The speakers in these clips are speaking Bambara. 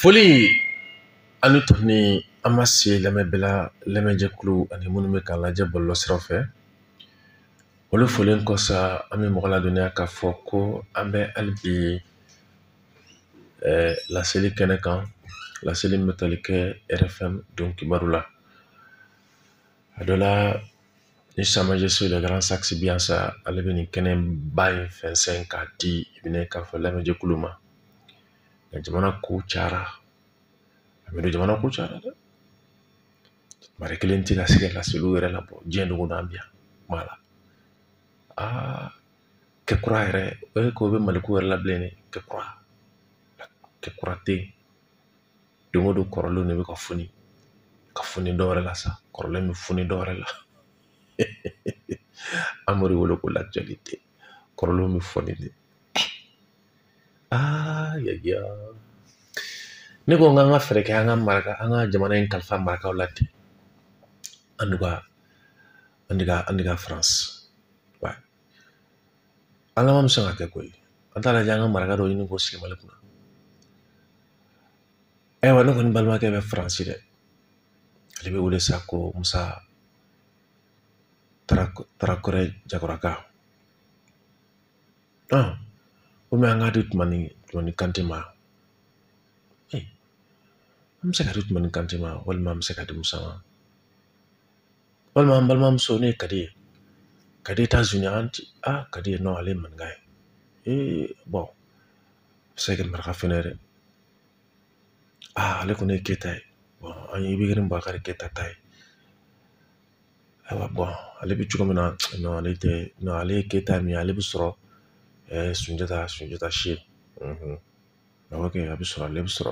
foli ani tuguni an ma se lamɛnbɛla lamɛnjɛkulu ani minnu bɛ k'an lajɛ bɔlɔlɔ siraw fɛ olu folen kɔ sa an bɛ mɔgɔ ladɔnniya k'a fɔ ko an bɛ hali bi eh, laseli kɛnɛ kan laseli min bɛ tali kɛ rfm don kibaru la a dɔ la ni samajɛso de garan sakisi bi sa ale bɛ nin kɛnɛ ba in fɛnsɛn k'a di i bɛna k'a fɔ lamɛnjɛkulu ma nka jamana ko cayara an b'a dɔn jamana ko cayara dɛ mari kelen tɛ ka se ka laseliw yɛrɛ labɔ diɲɛ don o don an bi yan kuma la aa kɛ kura yɛrɛ o ye ko bɛ mali ko yɛrɛ la bilen dɛ kɛ kura kɛ kura tɛ yen don o don kɔrɔlen de bɛ ka foni ka foni dɔ wɛrɛ la sa kɔrɔlen bɛ foni dɔ wɛrɛ la amadu wele ko lajali tɛ kɔrɔlen bɛ foni de aa yaya ne ko n k'an ka fɛɛrɛ kɛ an ka maraka an ka jamana in kalifa marakaw la ten an de ka an de ka an de ka faransi wa ala ma sɔn ka kɛ koyi an t'a lajɛ an ka maraka dɔ ɲini k'o sigi mali kunna ayiwa ne kɔni balimakɛ bɛ faransi dɛ ale bɛ wele sa ko musa tarawore jakoraka ah komi an k'a di tumani tumani kante ma eh, an bɛ se k'a di tumani kante ma walima an bɛ se k'a di musa ma walima an balimamuso n'o ye kadi ye kadi etazuni an ti a kadi ye nɔ ale ye maninka ye ee bɔn se ka maraka fɛnɛ dɛ aa ale kɔni ye keta ye an ye ibirahimu bubakari keta ta ye ayiwa bɔn ale bɛ cogo min na non ale tɛ non ale ye keta min ye ale bɛ sɔrɔ sunjata sunjata si a bɛ kɛ a bɛ sɔrɔ ale bɛ sɔrɔ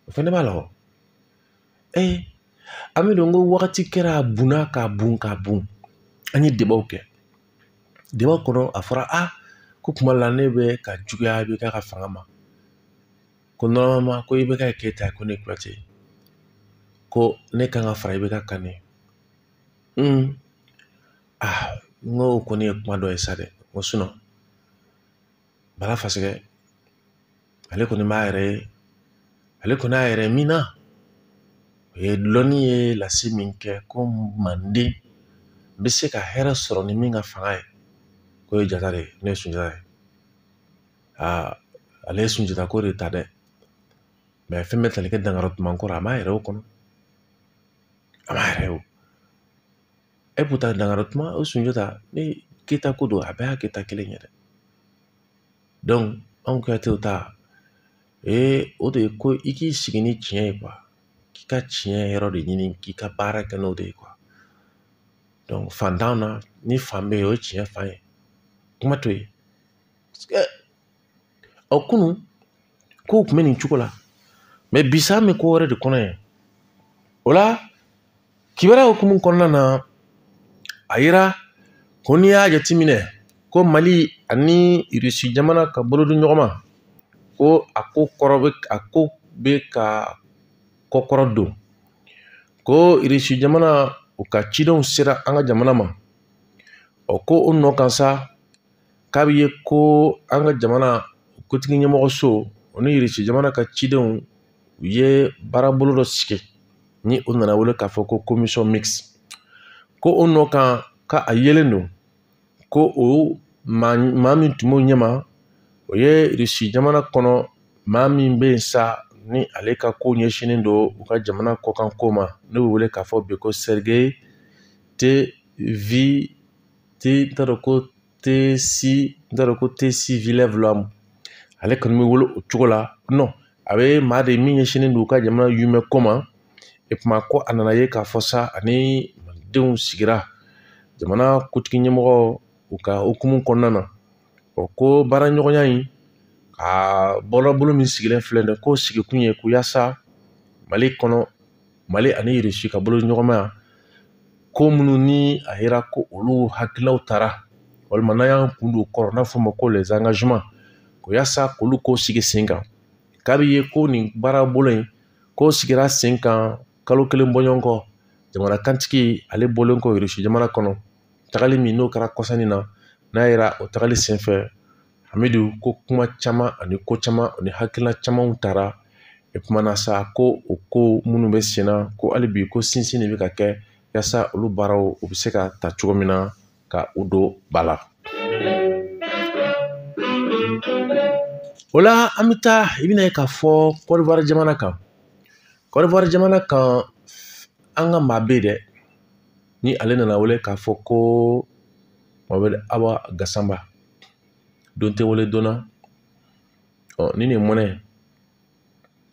o fɛnɛ b'a la an b'a dɔn ko wagati kɛra a bunna ka bun ka bun an ye debaw kɛ debaw kɔnɔ a fɔra a ko kuma la ne bɛ ka juguya ibk ka fanga ma ko normalement ko ibk keta ko ne kuyate ko ne kan ka fara ibk kan ne aa n ko o kɔni ye kuma dɔ ye sa dɛ n ko bala fasɛgɛ ale kɔni b'a yɛrɛ ye ale kɔni y'a yɛrɛ min na o ye lɔnni ye lase min kɛ ko manden bɛ se ka hɛrɛ sɔrɔ ni min ka fanga ye k'o ye jata de ye n'o ye sunjata ye aa ale ye sunjata ko de ta dɛ mais fɛn bɛ tali kɛ dankaran tuman ko rɔ a m'a yɛrɛ y'o kɔnɔ a m'a yɛrɛ y'o e b'u ta dankaran tuma o sunjata ni keta ko don a bɛɛ ye keta kelen ye dɛ anw kuyatew ta ee o de ye ko i k'i sigi ni tiɲɛ ye k'i ka tiɲɛ yɔrɔ de ɲini k'i ka baara kɛ n'o de ye fan t'an na ni fan bɛ yen o ye tiɲɛ fan ye kuma to yen ɔ kunun kow kun bɛ nin cogo la mɛ bi sa an bɛ ko wɛrɛ de kɔnɔ yɛrɛ o la kibaruya hukumu kɔnɔna na a yira ko n'i y'a jateminɛ ko mali ani irisi jamana ka bolodiɲɔgɔnma ko a ko kɔrɔ bɛ a ko bɛ ka kɔkɔrɔdon ko irisi jamana u ka cidenw sera an ka jamana ma ɔ ko o nɔ kan sa k'a bɛ ye ko an ka jamana kotigi ɲɛmɔgɔso u ni irisi jamana ka cidenw u ye baarabolo dɔ sigi ni o nana wele k'a fɔ ko commission mixte ko o nɔ kan ka a yelen don ko o maa maa min tun b'o ɲɛma o ye irisi jamana kɔnɔ maa min bɛ yen sa ni ale ka ko ɲɛsinnen don u ka jamana kɔkanko ma n'o bɛ wele k'a fɔ bi ko sergey te vi te n t'a dɔn ko tesi n t'a dɔn ko tesi vilɛv lamu ale kɔni bɛ wele o cogo la nɔn a bɛ maa de min ɲɛsinnen don u ka jamana yumɛ ko ma e kuma ko a nana ye k'a fɔ sa a ni malidenw sigira jamana kotigi ɲɛmɔgɔw ka hukumu kɔnɔna na ɔ ko baaraɲɔgɔnya in a bɔlɔbolo min sigilen filɛ nin ye k'o sigikun ye ko yaasa mali kɔnɔ mali ani irisi ka boloɲɔgɔnmaya ko minnu ni a yera ko olu hakililaw taara walima n'an y'an kun don kɔrɔ n'a fɔ ma ko les engagements ko yasa k'olu ko sigi sen kan k'a bɛ ye ko nin baarabolo in ko sigira sen kan kalo kelen bɔɲɔgɔnko jamana kantigi ale bɔlen kɔ irisi jamana kɔnɔ tagali min n'o kɛra kɔsa in na n'a yera o tagali senfɛ an b'a dɔn ko kuma caman ani ko caman ani hakilina camanw taara e kumana sa ko o ko minnu bɛ sen na ko hali bi ko sinsin de bɛ ka kɛ yasa olu baaraw u bɛ se ka ta cogo min na ka u don ba la o la an bɛ taa i bɛna ye k'a fɔ kɔdiwari jamana kan kɔdiwari jamana kan an ka maa bɛ yen dɛ ni ale nana wele k'a fɔ ko mamadu awa gasama don tɛ wele donna ɔ ni nin mɔnɛ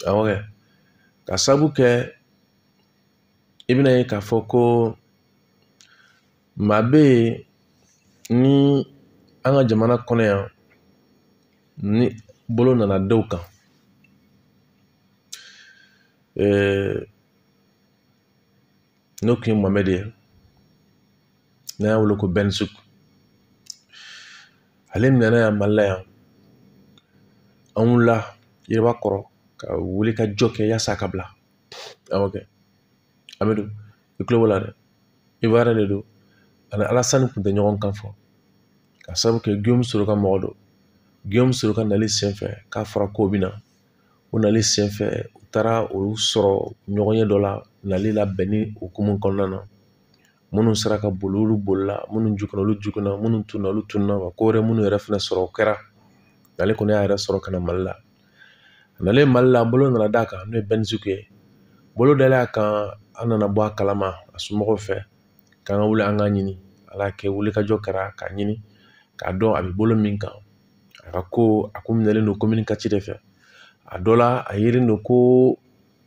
awɔ kɛ ka sabu kɛ i bɛna ye k'a fɔ ko maa bɛ yen ni an ka jamana kɔnɔ yan ni bolo nana da u kan ɛɛ n'o kun ye mɔmɛdi ye n'a y'a wele ko bɛnsuku ale min nana yan mali la yan an wulila yiriba kɔrɔ ka wuli ka jɔ kɛ yaasa a ka bila awɔ kɛ amadu i tulo b'o la dɛ ivuwarɛn de don a ni alasani kun tɛ ɲɔgɔn kan fɔ k'a sabu kɛ guillaume soro ka mɔgɔ don guillaume soro ka nali senfɛ k'a fɔra k'o bɛ na o nali senfɛ u taara u sɔrɔ ɲɔgɔnye dɔ la nali labɛnni hukumu kɔnɔna na minnu sera ka boli olu bolila minnu jukɔrɔ olu jiginna minnu tununna olu tununna ka ko wɛrɛ minnu yɛrɛ fɛnɛ sɔrɔ o kɛra ale kɔni y'a yɛrɛ sɔrɔ ka na mali la a nalen mali la bolo nana d'a kan n'o ye bɛnisuku ye bolo dalen a kan an nana bɔ a kalama a somɔgɔw fɛ k'an ka wuli an k'a ɲini ala kɛ wuli ka jɔ kɛra k'a ɲini k'a dɔn a bɛ bolo min kan a ka ko a ko minɛlen don komini katiri de fɛ a dɔ la a yelen don ko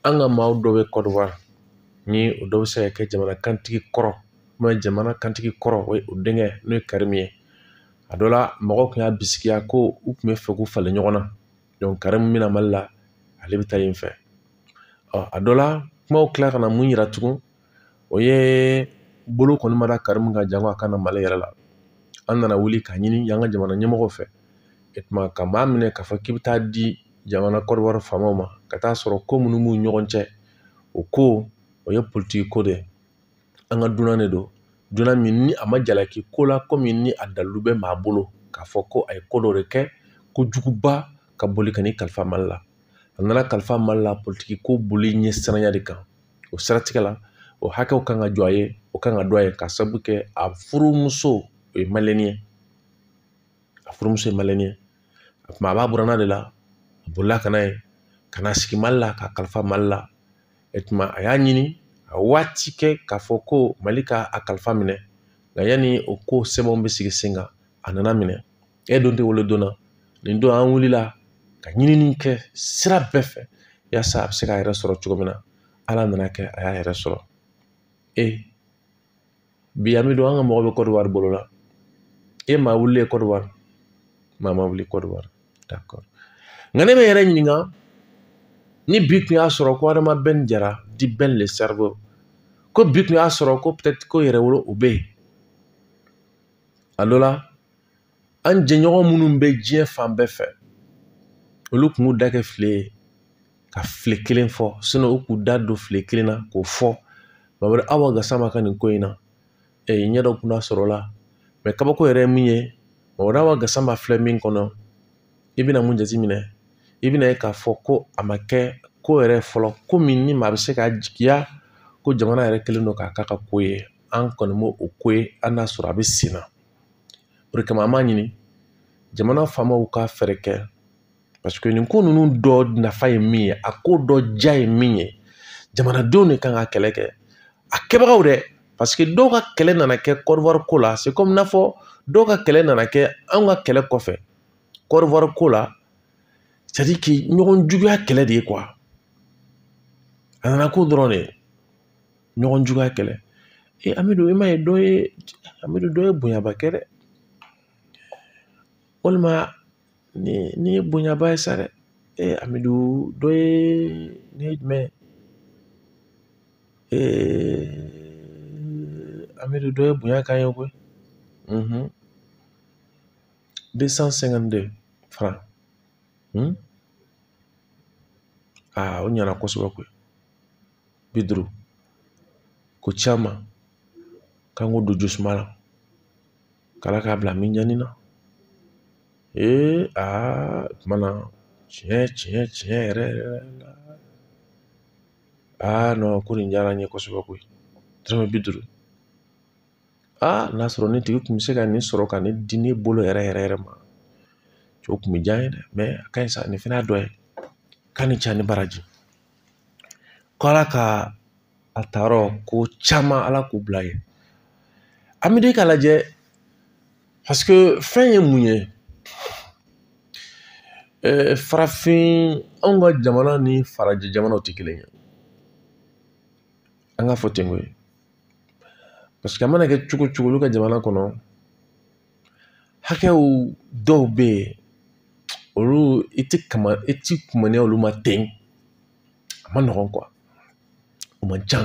an ka maaw dɔ bɛ kɔdiwari ni o dɔ bɛ se ka kɛ jamana kantigi kɔrɔ jamana kantigi kɔrɔ denkɛ n'o ye karimu ye a dɔ la mɔgɔw tun y'a bisigiya ko u tun bɛ fɛ k'u falen ɲɔgɔn na karimu bɛna mali la ale bɛ taa yen fɛ a dɔ la kumaw kila ka na mun yira tugun u ye bolo kɔni mada karimu ka jan a kana mali yɛrɛ la an nana wuli k'a ɲini an ka jamana ɲɛmɔgɔ fɛ e tuma ka maa minɛ k'a fɔ k'i bɛ taa di jamana kɔdiwari faamaw ma ka taa sɔrɔ ko minnu b'u ɲɔgɔn cɛ o ko o ye politigi ko de ye an ka dunan de don dunan min ni a ma jalaki ko la komi ni a dalilu bɛ maa bolo k'a fɔ ko a ye ko dɔ de kɛ ko juguba ka boli ka n'i kalifa mali la a nana kalifa mali la politigi ko boli ɲɛ siranya de kan o siratigɛ la o hakɛw kan ka jɔ a ye o kan ka dɔn a ye k'a sabu kɛ a furumuso ye maliyɛni ye a furumuso ye maliyɛni ye o kuma a b'a buranna de la a bolila ka n'a ye ka na sigi mali la k'a kalifa mali la e tuma a y'a ɲini a waati kɛ k'a fɔ ko mali ka a kalifa minɛ nka yanni o ko sɛbɛnw bɛ sigi sen kan a nana minɛ e don tɛ wolo don na nin don an wulila ka ɲinini kɛ sira bɛɛ fɛ yaasa a bɛ se k'a yɛrɛ sɔrɔ cogo min na ala nana kɛ a y'a yɛrɛ sɔrɔ e bi an bɛ don an ka mɔgɔ bɛ kɔdiwari bolo la e maa wuli ye kɔdiwari maa ma wuli kɔdiwari nka ne bɛ yɛrɛ ɲininka ni bi tun y'a sɔrɔ ko adama bɛn jara dit bɛn le cerveau ko bi tun y'a sɔrɔ ko ko yɛrɛwolo o bɛ yen a dɔ la an jɛɲɔgɔn minnu bɛ diɲɛ fan bɛɛ fɛ olu kun b'u da kɛ file ye ka file kelen fɔ u k'u da don file kelen na k'o fɔ bari aw ka sama ka nin ko in na ee ɲɛ dɔ kun da sɔrɔ la mɛ kabako yɛrɛ ye min ye mɔgɔ aw ka sama filɛ min kɔnɔ i bɛna mun jateminɛ i bɛna ye k'a fɔ ko a ma kɛ ko yɛrɛ fɔlɔ ko min ni maa bɛ se ka jigiya ko jamana yɛrɛ kɛlen don k'a k'a ka ko ye an kɔni b'o o ko ye hali n'a sɔrɔ a bɛ sen na o de kama an b'a ɲini jamana faamaw ka fɛɛrɛ kɛ paseke nin ko ninnu dɔ nafa ye min ye a ko dɔ diya ye min ye jamanadenw de kan ka kɛlɛ kɛ a kɛbagaw dɛ paseke dɔw ka kɛlɛ nana kɛ kɔdiwari ko la se komi n'a fɔ dɔw ka kɛlɛ nana kɛ anw ka kɛlɛ kɔfɛ kɔdiwari ko la ɲɔgɔn juguya kɛlɛ de ye a nana ko dɔrɔn de ɲɔgɔn juguya kɛlɛ e amidu i m'a ye dɔ ye amidu dɔ ye bonyaba kɛ dɛ walima nin ye bonyaba ye sa dɛ e amidu dɔ ye ne ye jumɛn ee amidu dɔ ye bonya k'an ye koyi deux cent cinquante deux francs aa o ɲana kosɛbɛ koyi bi duuru ko caman k'an k'o don jisuma la k'ala k'a bila mizani na ee aa kuma na tiɲɛ tiɲɛ tiɲɛ yɛrɛ yɛrɛ la aa n ko nin diyara n ye kosɛbɛ koyi dɔrɔmɛ bi duuru aa n'a sɔrɔ nin tigi kun bɛ se ka ne sɔrɔ ka nin di ne bolo yɛrɛ yɛrɛ yɛrɛ ma cɛ o kun bɛ diya n ye dɛ mɛ a ka ɲi sa nin fana dɔ ye k'a ni ce a ni baraji ko ala ka a ta yɔrɔ ko caman ala k'o bila yen amidu k'a lajɛ paseke fɛn ye mun ye farafin anw ka jamana ni farajɛ jamanaw tɛ kelen ye an k'a fɔ ten ko ye paseke a mana kɛ cogo cogo olu ka jamana kɔnɔ hakɛw dɔw bɛ yen olu i tɛ kama i tɛ kuma ni olu ma ten a man nɔgɔn o man ca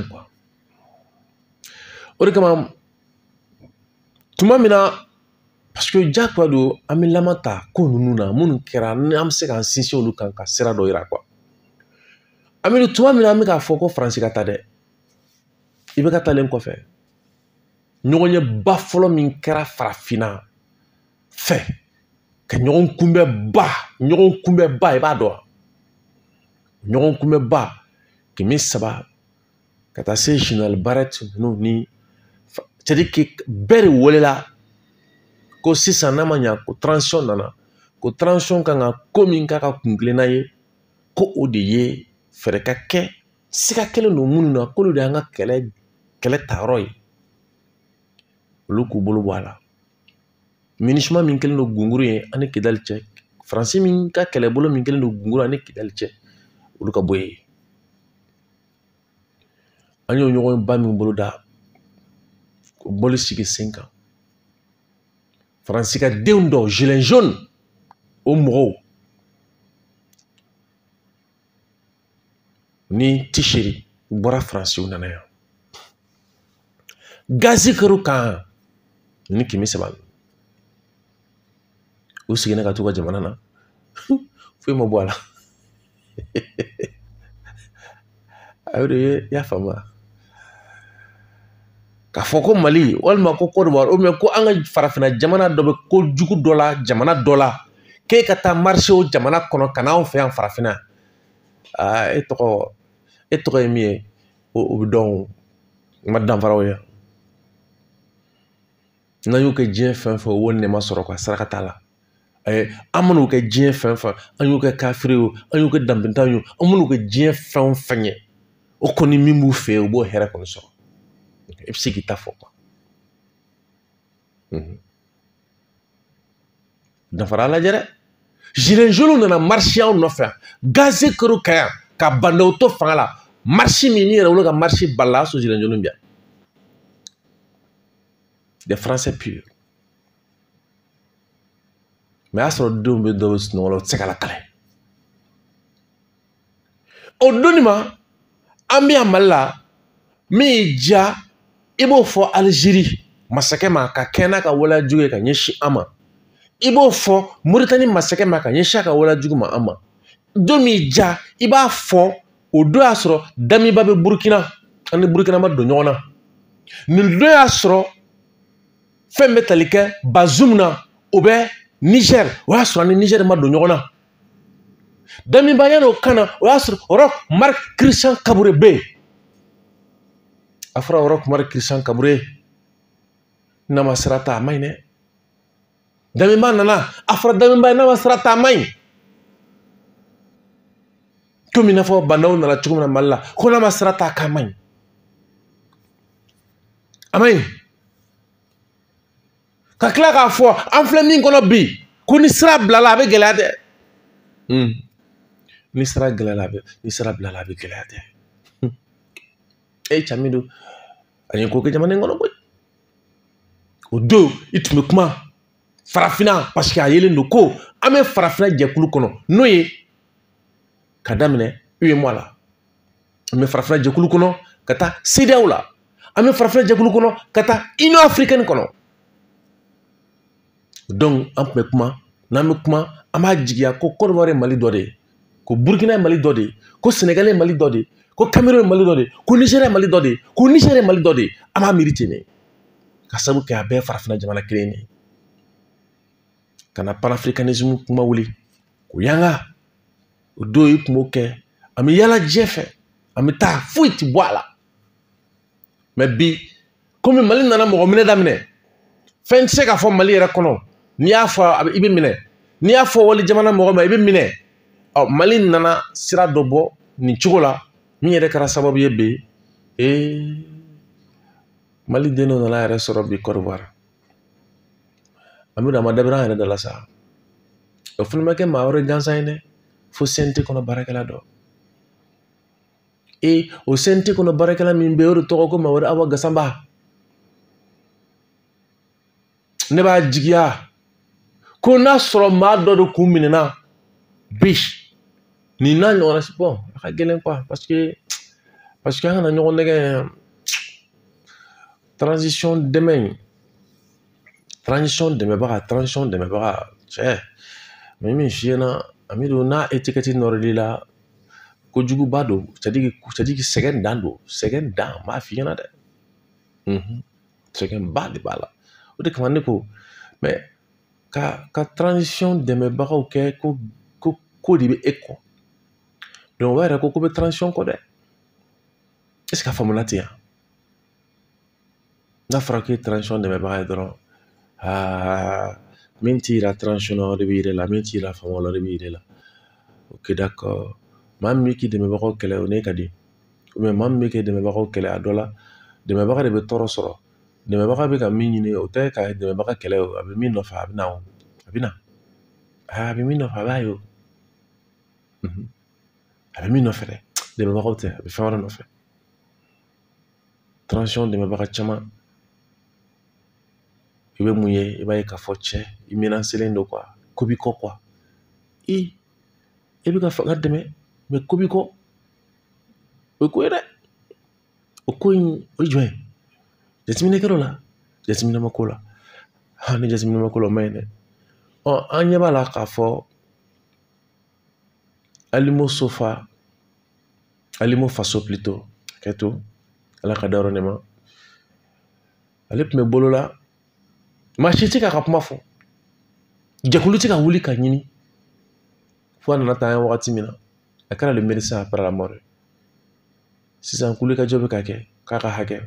o de kama tuma min na paseke jagoya don an bɛ laman ta ko ninnu na minnu kɛra ni an bɛ se k'an sinsin olu kan ka sira dɔ yira amidu tuma min na an bɛ k'a fɔ ko faransi ka taa dɛ i bɛ ka taalen kɔfɛ ɲɔgɔnyeba fɔlɔ min kɛra farafinna fɛ ka ɲɔgɔn kunbɛba ɲɔgɔn kunbɛba i b'a dɔn wa ɲɔgɔn kunbɛba kemi seba ka taa se zinali baara ninnu ni siriki bɛɛ de welela ko sisan n'a ma ɲa ko transition nana ko transition kan ka ko min k'a ka kun kelenna ye ko o de ye fɛɛrɛ ka kɛ siga kɛlen don minnu na k'olu de y'an ka kɛlɛ kɛlɛ ta yɔrɔ ye olu k'u bolo bɔ a la minusima min kɛlen don gunguru ye an ni kidali cɛ faransi min ka kɛlɛbolo min kɛlen don gunguru ye an ni kidali cɛ olu ka bɔ yen an y'o ɲɔgɔn ba min boloda o bɔli sigi sen kan faransi ka denw dɔw gilets jaunes o mɔgɔw ni tisiri u bɔra faransi u nana yan gazi kɛr'u kan u ni kemi seba u seginna ka t'u ka jamana na foyi ma bɔ a la a y'o de ye i y'a faamu wa k'a fɔ ko mali walima ko kodowari ou bien ko an ka farafinna jamana dɔ bɛ ko jugu dɔ la jamana dɔ la k'e ka taa marise u jamana kɔnɔ ka n'anw fɛ yan farafinna aa e tɔgɔ e tɔgɔ ye min ye o bɛ dɔn o ma danfaraw ye n'an y'u kɛ diɲɛ fɛn fɛn wo nɛma sɔrɔ ka saraka t'a la an man'u kɛ diɲɛ fɛn fɛn an y'u kɛ kafiri ye an y'u kɛ danbentan ye an man'u kɛ diɲɛ fɛn o fɛn ye o kɔni min b'u fɛ yen u b'o hɛrɛ kɔni sɔrɔ i bɛ se k'i ta fɔ danfara lajɛ dɛ gilets jaunes nana marisi anw nɔfɛ gazi kɛr'u kan yan ka ba ndaw to fanga la marisi min ni yɛrɛwolo ka marisiba la a sɔrɔ gilets jaunes bɛ yan des français purs mais a y'a sɔrɔ denw bɛ dɔ bɛ sunɔgɔ la u tɛ se ka lakale o donni ma an bɛ yan mali la min y'i diya i b'o fɔ alizeri masakɛ ma ka kɛɲɛ n'a ka waleyajugu ye ka ɲɛsin an ma i b'o fɔ moritani masakɛ ma ka ɲɛsin a ka waleyajugu ma an ma don min y'i diya i b'a fɔ o don y'a sɔrɔ damiba bɛ burukina an ni burukina ma don ɲɔgɔn na nin don y'a sɔrɔ fɛn bɛ tali kɛ bazum na o bɛ nizɛri o y'a sɔrɔ an ni nizɛri ma don ɲɔgɔn na damiba yanni o ka na o y'a sɔrɔ roch marc christian kaboré bɛ yen a fɔra roch marc christian kaboré ye n'a ma sira ta a ma ɲi dɛ damiba nana a fɔra damiba ye n'a ma sira ta a ma ɲi komi i n'a fɔ ba ndaw nana cogo min na mali la ko n'a ma sira ta k'a ma ɲi a ma ɲi ka tila k'a fɔ an filɛ min kɔnɔ bi ko ni sira bilala a bɛ gɛlɛya dɛ hmm. ni sira gɛlɛyala a bɛ ni sira bilala a bɛ gɛlɛya dɛ hmm. e ye cami don a ye ko kɛ jamana in kɔnɔ koyi o don i tun bɛ kuma farafinna parce que a yelen don ko an bɛ farafinna jɛkulu kɔnɔ n'o ye ka daminɛ uemoa la an bɛ farafin jɛkulu kɔnɔ ka taa cedeao la an bɛ farafin jɛkulu kɔnɔ ka taa union africaine kɔnɔ donc an tun bɛ kuma n'an bɛ kuma an b'a jigiya ko kɔdiwari mali dɔ de ye ko burukina mali dɔ de ye ko sɛnɛgali mali dɔ de ye ko kameruni mali dɔ de ye ko nizɛri mali dɔ de ye ko nizeriya mali dɔ de ye an b'a miiri ten de ka sabu kɛ a bɛɛ farafina jamana kelen de ye ka na panafricanisme kuma wuli k'u yanga o don i kun b'o kɛ an bɛ yala diɲɛ fɛ an bɛ taa foyi ti bɔ a la mɛ bi komi mali nana mɔgɔ minɛ daminɛ fɛn tɛ se ka fɔ mali yɛrɛ kɔnɔ n'i y'a fɔ a bɛ i bɛ minɛ n'i y'a fɔ wali jamana mɔgɔ ma i bɛ minɛ ɔ mali nana sira dɔ bɔ nin cogo la min yɛrɛ kɛra sababu ye bi ee mali den dɔ nana yɛrɛ sɔrɔ bi kɔdiwari an bɛ na ma dabɛrɛ an yɛrɛ dala sa o fana ma kɛ maa wɛrɛ gansan ye dɛ fo cnt kɔnɔ baarakɛla dɔ e o cnt kɔnɔ baarakɛla min bɛ yen o de tɔgɔ ko mamadu awa gasanba ne b'a jigiya ko n'a sɔrɔ maa dɔ de kun minɛna bi nin n'a ɲɔgɔnna bɔn a ka gɛlɛn quoi paseke paseke an kana ɲɔgɔn nɛgɛn transition dɛmɛ in transition dɛmɛbaga transition dɛmɛbaga cɛ mɛ min f'i ɲɛna ami don n'a etikɛti nɔrɔl'i la kojuguba don sadiki sɛgɛn dan don sɛgɛn dan n b'a f'i ɲɛna dɛ sɛgɛnba de b'a la o de kama ne ko mɛ ka ka transition dɛmɛbagaw kɛ ko ko ko de bɛ e kɔ donc o yɛrɛ ko ko bɛ transition kɔ dɛ est ce que a faamuna ten yan n'a fɔra k'e transition dɛmɛbaga ye dɔrɔn aa min t'i yira transition o de b'i yɛrɛ la min t'i yira fanga o de b'i yɛrɛ la o kɛ da kɔ maa min bɛ k'i dɛmɛbagaw kɛlɛ o ne ka di maa min bɛ k'i dɛmɛbagaw kɛlɛ a dɔ la dɛmɛbaga de bɛ tɔɔrɔ sɔrɔ dɛmɛbaga bɛ ka min ɲini o tɛ ka dɛmɛbaga kɛlɛ o a bɛ min nɔfɛ a bɛ na o a bɛ na a bɛ min nɔfɛ a b'a ye o a bɛ min nɔfɛ dɛ dɛmɛbagaw tɛ a bɛ fɛn wɛrɛ nɔfɛ transition dɛmɛbaga caman i bɛ mun ye i b'a ye k'a fɔ cɛ i minɛ selen don ko bi kɔ i e bɛ ka fanga dɛmɛ mɛ ko bi kɔ o ye ko ye dɛ o ko in o ye jumɛn ye jateminɛ kɛra o la jateminɛ ma kɛ o la ha ni jateminɛ ma kɛ o la o ma ɲi dɛ ɔ an ɲɛ b'a la k'a fɔ alino sofa alino faso plutôt hakɛ to ala k'a dayɔrɔ nɛɛma ale tun bɛ bolo la maa si tɛ k'a ka kuma fɔ jɛkulu tɛ ka wuli k'a ɲini fo a nana taa an ye wagati min na a kɛra le médecin après la mort sisan wulikajɔ bɛ ka kɛ k'a ka hakɛ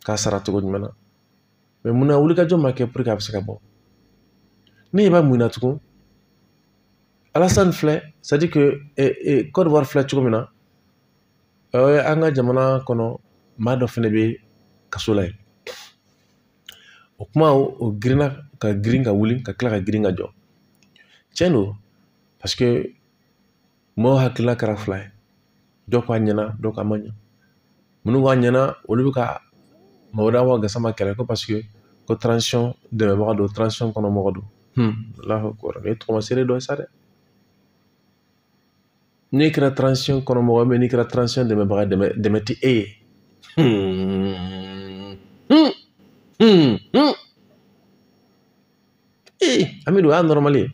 ka sara cogo jumɛn na mɛ munna wulikajɔ ma kɛ puruke a bɛ se ka bɔ ne ɲɛ b'a mun na tugun alasani filɛ c'est-à-dire que kɔdiwari filɛ cogo min na an ka jamana kɔnɔ maa dɔ fɛnɛ bɛ kaso la yen o kuma o girinna ka girin ka wuli ka kila ka girin ka jɔ tiɲɛ don paseke mɔgɔw hakilila kɛra fila ye dɔ k'a ɲɛna dɔ k'a ma ɲɛ minnu k'a ɲɛna olu bɛ ka madu awa gasama kɛlɛ ko paseke ko transition dɛmɛbaga don transition kɔnɔ mɔgɔ don lahɔ kɔrɔ ne tɔgɔ sere dɔ sa dɛ n'i kɛra transition kɔnɔ mɔgɔ mɛ n'i kɛra transition dɛmɛbaga dɛmɛ dɛmɛ tɛ e ye ee an bɛ don o y'a nɔrɔmali ye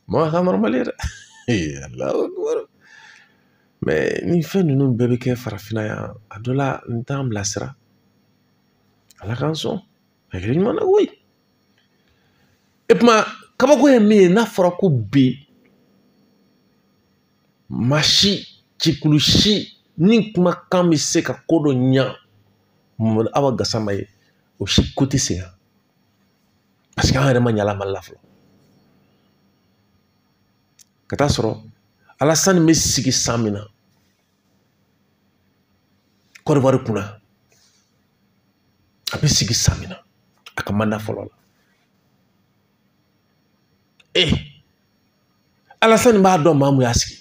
mɔgɔ ka nɔrɔmali ye dɛ ee ala mɛ ni fɛn ninnu bɛɛ bɛ kɛ farafinna yan a dɔ la n t'an bilasira ala k'an sɔn hakili ɲuman na koyi e kuma kabako ye min ye n'a fɔra ko bi maa si jɛkulu si ni kumakan bɛ se ka ko dɔ ɲa awa gasama ye o si ko tɛ se yan paseke an yɛrɛ ma ɲala mali la fɔlɔ ka taa sɔrɔ alasani bɛ sigi san min na kɔdiwari kunna a bɛ sigi san min na a ka manda fɔlɔ la ee alasani b'a dɔn maa mun y'a sigi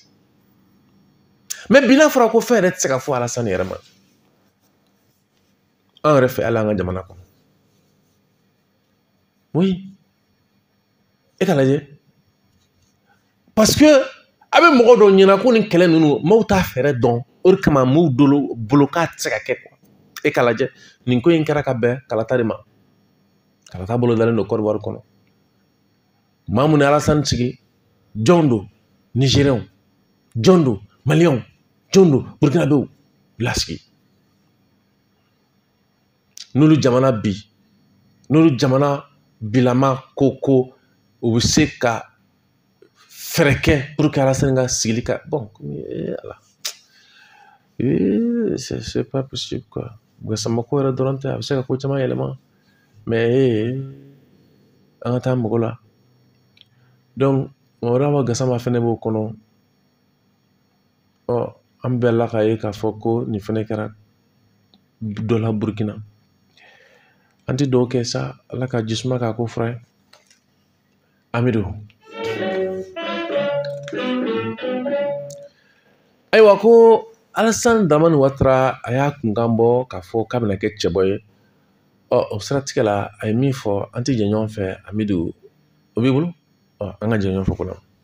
mɛ bi n'a fɔra ko fɛn yɛrɛ tɛ se ka fɔ alasani yɛrɛ ma an yɛrɛ fɛ ala an ka jamana kɔnɔ oui e k'a lajɛ parce que a bɛ mɔgɔ dɔw ɲɛna ko nin kɛlɛ ninnu maaw t'a fɛɛrɛ dɔn o de kama maaw dɔw bolo k'a tɛ se ka kɛ kuwa e k'a lajɛ nin ko in kɛra ka bɛn kalata de ma kalata bolodalen don kɔdiwari kɔnɔ maa mun ye alasani sigi jɔn don nizeriyɛnw jɔn don maliyɛnw jɔn don burukinabew lasigi n'olu jamana bi n'olu jamana bilama ko ko u bɛ se ka fɛɛrɛ kɛ puruke alasani ka sigili ka bɔn ee ala ee c'est pas possible quoi gasama ko yɛrɛ dɔrɔn tɛ a bɛ se ka ko caman yɛlɛma mɛ ee an ka taa mɔgɔ la dɔnku mamadu awa gasama fɛnɛ b'o kɔnɔ ɔ an bɛɛ la k'a ye k'a fɔ ko nin fɛnɛ kɛra dɔ la burukina an ti dugawu kɛ sa ala ka jisuma k'a ko fura ye amidu ayiwa ko alasan daramani watara a y'a kunkan bɔ k'a fɔ k'a bɛna kɛ cɛbɔ ye ɔ o siratigɛ la a ye min fɔ an ti jɛ ɲɔgɔn fɛ amidu o b'i bolo ɔ an ka jɛ ɲɔgɔn fɛ ko la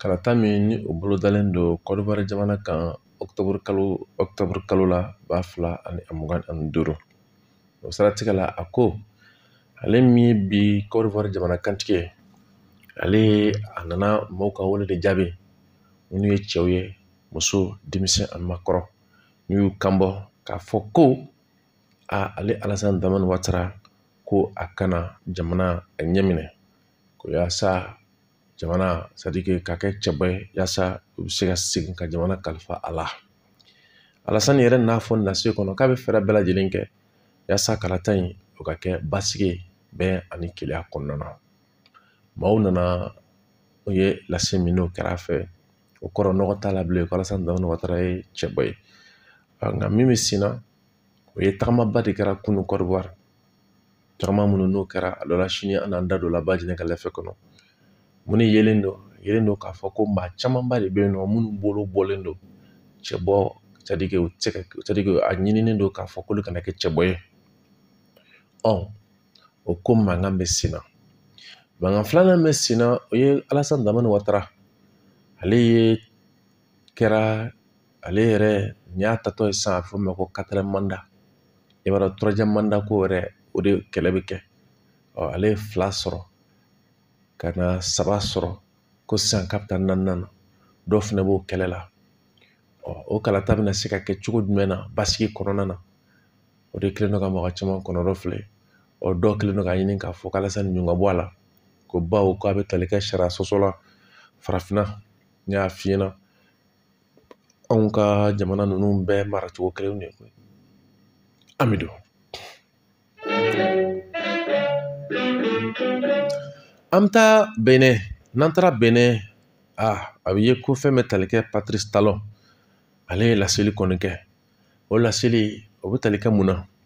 Kalata min ni o bolodalen don kɔdiwari jamana kan kalo ɔkutɔburu kalo la ba fila ani mugan ani duuru o siratigɛ la a ko ale min ye bi kɔdiwari jamana kuntigi ye ale a nana mɔgɔw ka wele de jaabi minnu ye cɛw ye muso denmisɛn ani maakɔrɔ n'u y'u kan bɔ k'a fɔ ko a ale alasan daramani watara ko a ka na jamana a ɲɛminɛ ko yaasa jamana c'est-à-dire que ka kɛ cɛbɔ ye yaasa u bɛ se ka segin ka jamana kalifa a la alasani yɛrɛ n'a fɔ lase kɔnɔ k'a bɛ fɛɛrɛ bɛɛ lajɛlen kɛ yaasa kalata in o ka kɛ basigi bɛn ani kelenya kɔnɔna na maaw nana u ye lase min n'o kɛra a fɛ o kɔrɔ nɔgɔ t'a la bilen alasan watara ye cɛbɔ ye nka min bɛ sen na o ye tagamaba de kɛra kunun kɔdiwari tagama minnu n'o kɛra a dɔ la sini an n'an da don la ba jeni ka lɛfɛ kɔnɔ mun ni yelen don yelen don k'a fɔ ko maa camanba de bɛ yen nɔ minnu bolo bɔlen don cɛbɔ sadike u tɛ sadike a ɲininen don k'a fɔ k'olu kana kɛ cɛbɔ ye ɔ o ko mankan bɛ sen na mankan filanan bɛ sen na o ye alasani daramani watara ale ye kɛra ale yɛrɛ nin y'a tatɔ ye sisan a bɛ fɔ o ma ko katiriyɛmu manda i b'a dɔn turuwaziyɛmu manda ko yɛrɛ o de kɛlɛ bɛ kɛ ɔ ale ye fila sɔrɔ ka na saba sɔrɔ ko sisan k'a bɛ taa naaninan na dɔw fana b'o kɛlɛ la ɔ o kalata bɛna se ka kɛ cogo jumɛn na basigi kɔnɔna na o de kɛlen don ka mɔgɔ caman kɔnɔrɔfili ɔ dɔw kɛlen don k'a ɲini k'a fɔ k'alasani ɲun ka bɔ a la ko bawo k'a bɛ tali kɛ sariya sɔsɔ la farafinna n y'a f'i ɲɛna anw ka jamana ninnu bɛɛ mara cogo kelen de koyi amidu an bɛ taa benɛn n'an taara benɛn a a bɛ ye ko fɛn bɛ tali kɛ patirisi talɔn ale ye laseli kɔni kɛ o laseli o bɛ tali kɛ mun na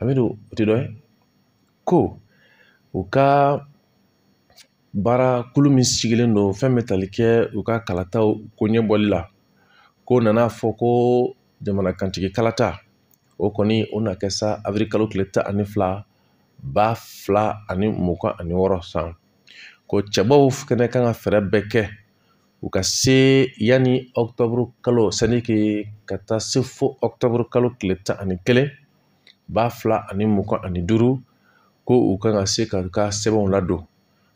amidu o tɛ dɔ ye ko u ka baara kulu min sigilen don fɛn bɛ tali kɛ u ka kalataw ko ɲɛbɔli la ko nana a fɔ ko jamana kuntigi kalata o kɔni o na kɛ sa awirili kalo tile tan ani fila ba fila ani mugan ani wɔɔrɔ san ko cɛbɔw fɛnɛ kan ka fɛɛrɛ bɛɛ kɛ u ka se yanni ɔkutɔburu kalo sadike ka taa se fo ɔkutɔburu kalo tile tan ani kelen ba fila ani mugan ani duuru ko u kan ka se ka u ka sɛbɛnw ladon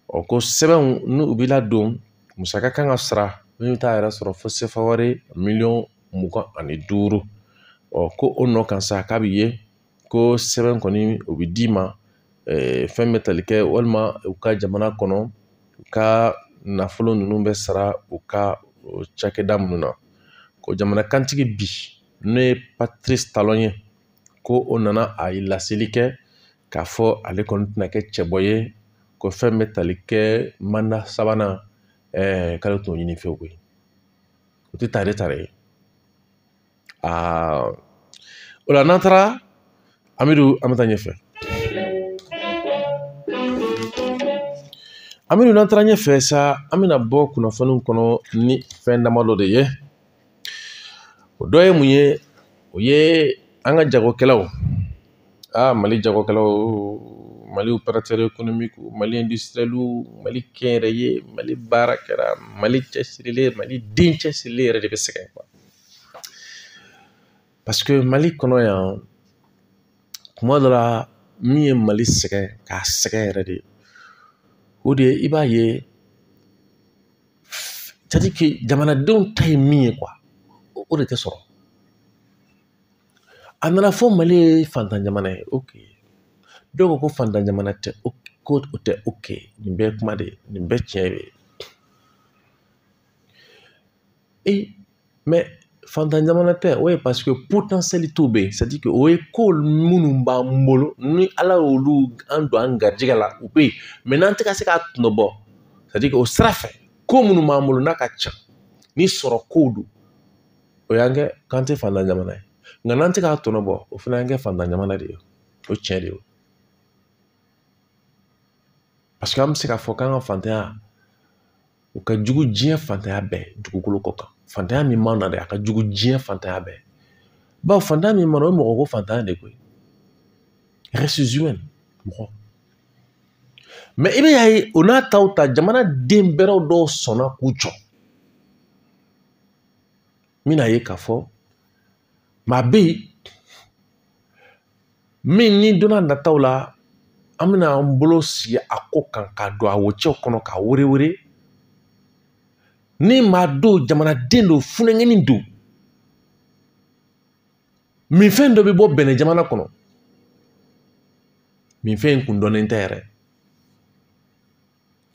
ɔ ko sɛbɛnw ni u bɛ ladon musaka kan ka sara min bɛ taa yɛrɛ sɔrɔ fo sefa wari miliyɔn mugan ani duuru ɔ ko o nɔ kan sa k'a bɛ ye ko sɛbɛn kɔni o bɛ d'i ma fɛn bɛ tali kɛ walima u ka jamana kɔnɔ u ka nafolo ninnu bɛ sara u ka cakɛda minnu na ko jamana kuntigi bi n'o ye patirisi talɔn ye ko o nana a ye laseli kɛ k'a fɔ ale kɔni tɛna kɛ cɛbɔ ye ko fɛn bɛ tali kɛ manda sabanan k'ale t'o ɲini fɛ koyi o tɛ tare tare ye aa o la n'an taara amidu an bɛ taa ɲɛfɛ amidu n'an taara ɲɛfɛ sa an bɛna bɔ kunnafoniw kɔnɔ ni fɛn damadɔ de ye o dɔ ye mun ye o ye an ka jagokɛlaw aa mali jagokɛlaw mali operatɛri ekonomikiw mali indusitiriyɛliw mali kɛnyɛrɛye mali baarakɛla mali cɛsirilen mali den cɛsirilen yɛrɛ de bɛ sɛgɛn Paseke mali kɔnɔ yan kuma dɔ la min ye mali sɛgɛn k'a sɛgɛn yɛrɛ de o de ye i b'a ye sɛtadiri jamanadenw ta ye min ye o de tɛ sɔrɔ a nana fɔ mali ye fantan jamana ye o dɔw ko ko fantan jamana tɛ o ko o tɛ o kɛ nin bɛɛ ye kuma de ye nin bɛɛ tiɲɛ de ye fantan jamana tɛ o ye paseke potansiyalitew bɛ yen sɛtadiri o ye ko minnu b'an bolo ni ala y'olu an don an garijɛgɛ la u bɛ yen n'an tɛ ka se k'a tɔnɔ bɔ sɛtadiri o sira fɛ ko minnu b'an bolo n'a ka ca ni sɔrɔ kow don o y'an kɛ k'an tɛ fantan jamana ye nka n'an tɛ k'a tɔnɔ bɔ o fana y'an kɛ fantan jamana de ye o tiɲɛ de ye paseke an bɛ se k'a fɔ k'an ka fantanya o ka jugu diɲɛ fantanya bɛɛ dugukolo kɔ kan fantanya min b'an na dɛ a ka jugu diɲɛ fantanya bɛɛ bawo fantanya min b'an na o ye mɔgɔ ko fantanya de koyi mɔgɔ mɛ i bɛ y'a ye o n'a ta o ta jamana den bɛrɛw dɔw sɔnna k'u jɔ n bɛn'a ye k'a fɔ maa bɛ yen min ni donna nataw la an bɛna an bolo sin a ko kan ka don a wocɛw kɔnɔ k'a werewere ni maa don jamanaden don funankɛnin don minfɛn dɔ bɛ bɔ bɛnɛ jamana kɔnɔ minfɛn in kun dɔnnen tɛ yɛrɛ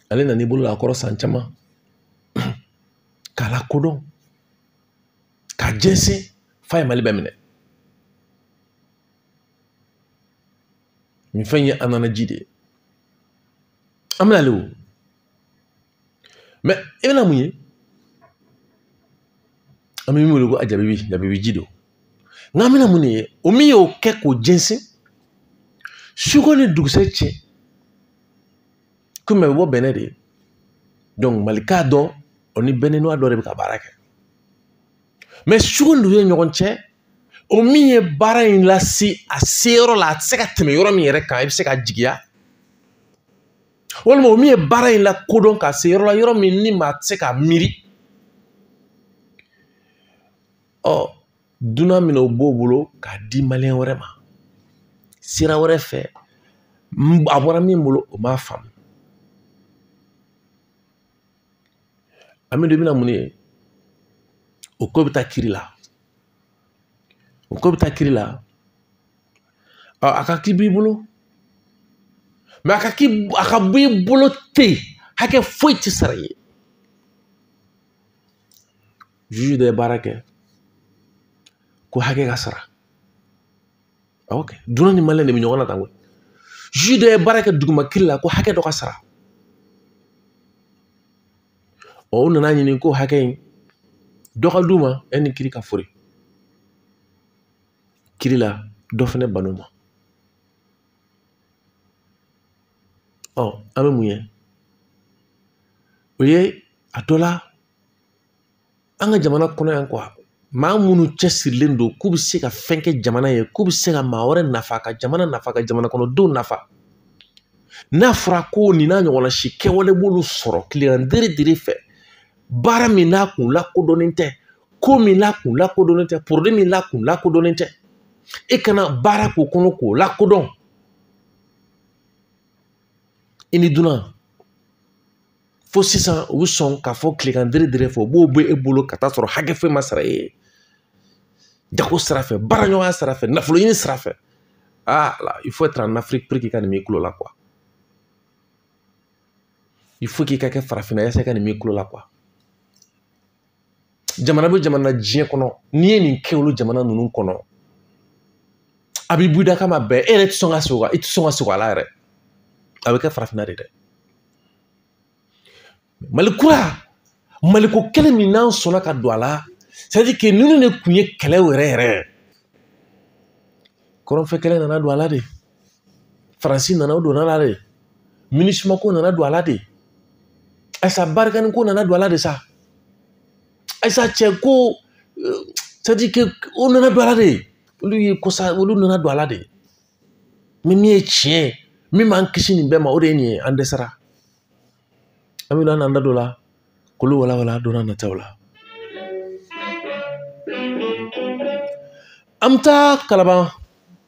ale nan'i bolo la a kɔrɔ san caman k'a lakodɔn k'a jɛnsɛn f'a ye mali bɛɛ minɛ minfɛn ye anana ji de ye an bɛna ale o mɛ i bɛna mun ye an bɛ min wele ko a jabibi jabibi ji don nka an bɛna mun de ye o min y'o kɛ k'o jɛnsɛn suko ni dugusɛ cɛ komi a bɛ bɔ bɛnɛ de dɔnki malika dɔ o ni bɛnɛnwa dɔ de bɛ ka baara kɛ mɛ sugu ninnu ye ɲɔgɔn cɛ o min ye baara in lase a se yɔrɔ la a tɛ se ka tɛmɛ yɔrɔ min yɛrɛ kan i bɛ se ka jigiya walima o min ye baara in lakodɔn k'a se yɔrɔ la yɔrɔ min ni maa tɛ se ka miiri ɔ dunan bɛn'o bɔ o bolo k'a di maliyɛn wɛrɛ ma sira wɛrɛ fɛ a bɔra min bolo o m'a faamu an bɛ don bɛna mun ye o ko bɛ taa kiri la o ko bɛ taa kiri la ɔ a ka k'i b'i bolo mɛ a ka k'i a ka b'i bolo ten hakɛ foyi tɛ sara i ye juge dɔ ye baara kɛ ko hakɛ ka sara awɔ kɛ dunan ni maliyɛn de bɛ ɲɔgɔn na tan koyi juge dɔ ye baara kɛ duguma kiri la ko hakɛ dɔ ka sara ɔ u nana ɲini ko hakɛ in dɔ ka d'u ma yanni kiri ka foori kiri la dɔ fɛnɛ bann'o ma ɔ an bɛ mun ye o ye a dɔ la an ka jamana kɔnɔ yan maa minnu cɛsirilen don k'u bɛ se ka fɛn kɛ jamana ye k'u bɛ se ka maa wɛrɛ nafa ka jamana nafa ka jamana kɔnɔdenw nafa n'a fɔra ko nin n'a ɲɔgɔnna si kɛwale b'olu sɔrɔ tilegan dere dere fɛ baara min n'a kun lakodɔnnen tɛ ko min n'a kun lakodɔnnen tɛ porode min n'a kun lakodɔnnen tɛ e ka na baara k'o kɔnɔ k'o lakodɔn i ni dunan fo sisan u bɛ sɔn k'a fɔ tilegan dere dere fɛ u b'o bɔ e bolo ka taa sɔrɔ hakɛ foyi ma sara e ye jago sira fɛ baaraɲɔgɔnya sira fɛ nafolo ɲini sira fɛ aa il faut être en Afrique pour k'i ka nin m'i kulo la quoi il faut k'i ka kɛ farafinna yasa i ka nin m'i kulo la quoi jamana bɛ jamana diɲɛ kɔnɔ n'i ye nin kɛ olu jamana ninnu kɔnɔ a b'i buda kama bɛɛ e yɛrɛ tɛ sɔn ka sugo i tɛ sɔn ka sugo a la yɛrɛ a bɛ kɛ farafinna de dɛ mali kura maliko kelen min n'an sɔnna ka don a la c'est-à-dire que ninnu de tun ye kɛlɛ yɛrɛ yɛrɛ kɔrɔnfɛ kɛlɛ nana don a la de faransi nana o donn'a la de minusima ko nana don a la de ayisa barikani ko nana don a la de sa ayisa cɛ ko c'est-à-dire que o nana don a la de olu ye kosa olu nana don a la de mɛ min ye tiɲɛ ye min b'an kisi nin bɛɛ ma o de ye nin ye an dɛsɛra an bɛ n'an da don a la k'olu walawala don nataw la an bɛ taa kalaban